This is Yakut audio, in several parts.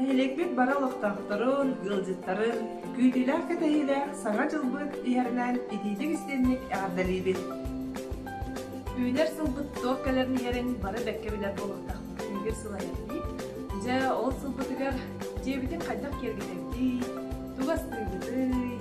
Нэһилиэкпит бара олохтоохторун, ыалдьыттарын күүтүүлээх кэтэһиилээх Саҥа дьылбыт иһэринэн итиитик истинник эҕэрдэлиибит! Үүнэр сылбыт туох кэлэрин иһэрин бары бэккэ билэр буолуохтаахпыт күнүгэр сыл айанныы. Дьэ, ол сылбытыгар дьиэбитин хайдах киэргэтэрдий, тугу астыыргытый,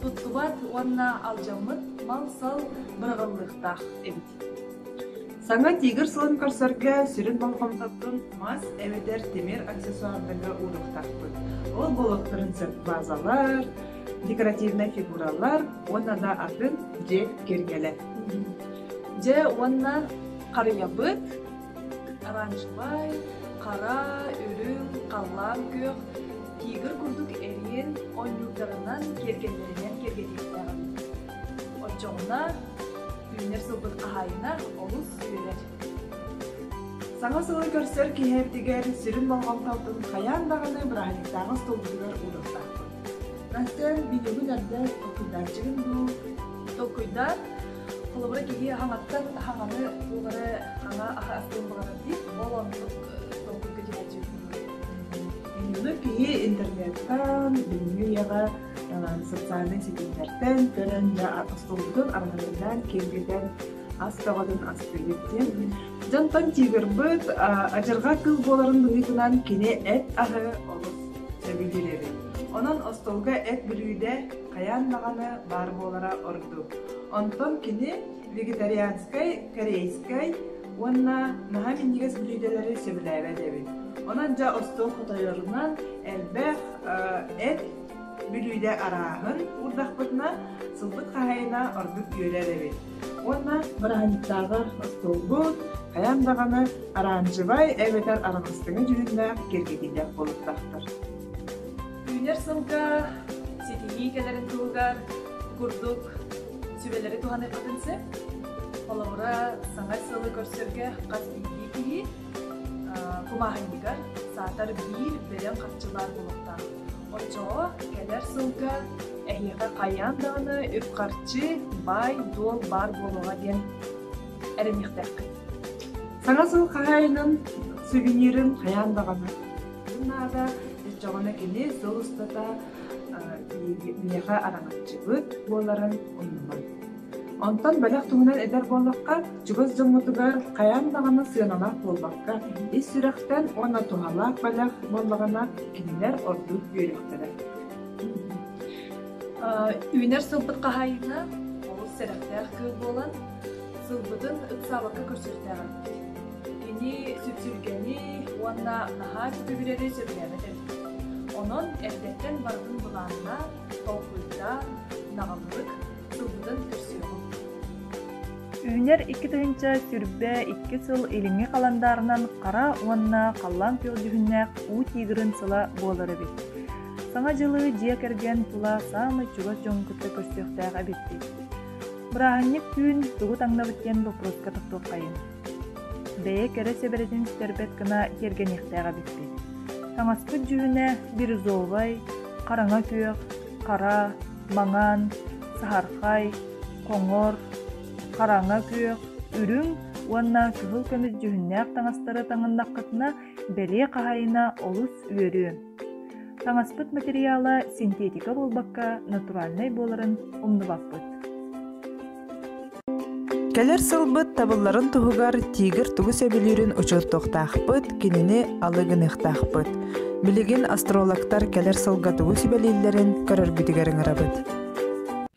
туттубат уонна алдьаммыт мал-сал бырҕыллыахтаах эбит. Саҥа тигр сылын көрсөргө сүрүн болҕомтотун мас эбэтэр тимир аксессуардарга ууруохтаахпыт. Ол буолуохтарын сөп базалар, декоративнай фигуралар уонна да атын дьиэ киэргэлэр. Дьэ уонна харыйабыт оранжевай, хара, үрүҥ, халлаан күөх Тигр курдук эриэн ойуурдарынан, киэргэллэринэн киэргэтиэхтээҕин оччоҕуна үүнэр сылбыт хаһаайына олус үөрэр. Саҥа сылы көрсөр киһи эбдигэр сүрүн болҕомтотун хайаан даҕаны бырааһынньыктааҕы столбутугар ууруохтаахпын. Настан билигин эрдэ толкуйдааччыгын дуу? Толкуйдаа. Холобура киһи хаҥаттан хаҥаны буолары хаҥа астын баҕарар дии. Ол оннук толкуйга Иннинэ киһи интернеттан, бүгүҥҥү үйэҕэ социальнай ситимнэртэн көрөн да остуолбутун арҕайынан киэргэтэн ас көҕөтүн астыыбыт диэн дьонтон тигрбыт адьырҕа кыыл буоларын быһыытынан кини эт аһы олус сөбүлүүрэрин онон остуолга эт бүрүүдэ хайаан даҕаны баар буолара ордук онтон кини вегетарианскай, корейскай уонна наһаа минньигэс бүлүүдэлэри сөбүлээбэт эбит. Онон дьэ остуол хотойорунан элбэх эт бүлүүдэ арааһын уурдахпытына сылбыт хаһайына ордук үөрэр эбит. Уонна бырааһынньыктааҕар остуолбут хайаан даҕаны аранжевай эбэтэр араҥастыҥа дьүһүннээх киргэтиилэх буолуктаахтар. Үүнэр сылга ситиһии кэлэрин туһугар курдук сүбэлэри туһаныахпытын сөп. Холобура, саҥа сылы көрсөргө хас биирдии киһи кумааһынньыгар саатар биир бөдөҥ харчылаах буолуохтаах. Оччоҕо кэлэр сылга эһиэхэ хайаан даҕаны үп-харчы, баай-дуол баар буолуоҕа диэн эрэниэхтээх. Саҥа сыл хаһаайынын сувенирын хайаан даҕаны Бу наада дьоҕуна кини сыл устата миэхэ араҥаччыбыт буоларын умнуман. Онтон бэлэх туһунан эдэр буоллахха, чугас дьоҥҥутугар хайаан даҕаны сыаналаах буолбакка, ис сүрэхтэн уонна туһалаах бэлэх буоллаҕына, кинилэр ордук үөрүөхтэрэ. Үүнэр сылбыт хаһайына олус сэрэхтээх күөл буолан, сылбытын ыксаабакка көрсүөхтээҕим. Кини сүпсүлгэни уонна наһаа сөбүлэри сөбүлээбэт эбит. Онон эрдэттэн барытын былааннаан, толкуйдаан, наҕыллык турбутун көрсүөҕүҥ. Үүнэр икки тыһыынча сүүрбэ икки сыл илиҥҥи халандаарынан хара уонна халлаан күөх дьүһүннээх уу тигрин сыла буолар эбит. Саҥа дьылы дьиэ кэргэн тула саамай чугас дьон кытта көрсүөхтээх эбит дии. Бырааһынньык түүн тугу таҥнабыт диэн боппуруоска тохтуоххайыҥ. Бэйэ кэрэ сэбэрэтин истэрбэт гына тиэргэниэхтээх эбиппит. Таҥаспыт дьүһүнэ бирюзовай, хараҥа күөх, хара, маҥан, саһархай, хоҥор, хараҥа күөх, үрүҥ уонна кыһыл көмүс дьүһүннээх таҥастары таҥыннаххытына, бэлиэ хаһайына олус үөрүө. Таҥаспыт материала синтиэтика буолбакка, натуральнай буоларын умнубаппыт. Кэлэр сылбыт табылларын туһугар тигр тугу сөбүлүүрүн учуоттуохтаахпыт, кинини алы гыныахтаахпыт. Билигин астрологтар кэлэр сылга тугу сүбэлииллэрин көрөргүтүгэр ыҥырабыт.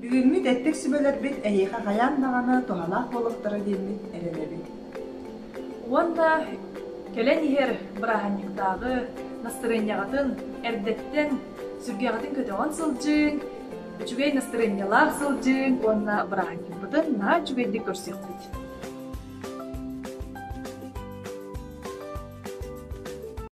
Бүгүҥҥү тэттик сүбэлэрбит эһиэхэ хайаан даҕаны туһалаах буолуохтара диэммит эрэнэбит. Уонна кэлэн иһэр бырааһынньыктааҕы настырыанньаҕытын эрдэттэн сүргэҕитин көтөҕөн сылдьыыҥ, үчүгэй настырыанньалаах сылдьыыҥ уонна бырааһынньыкпытын наһаа үчүгэйдик көрсүөхпүт.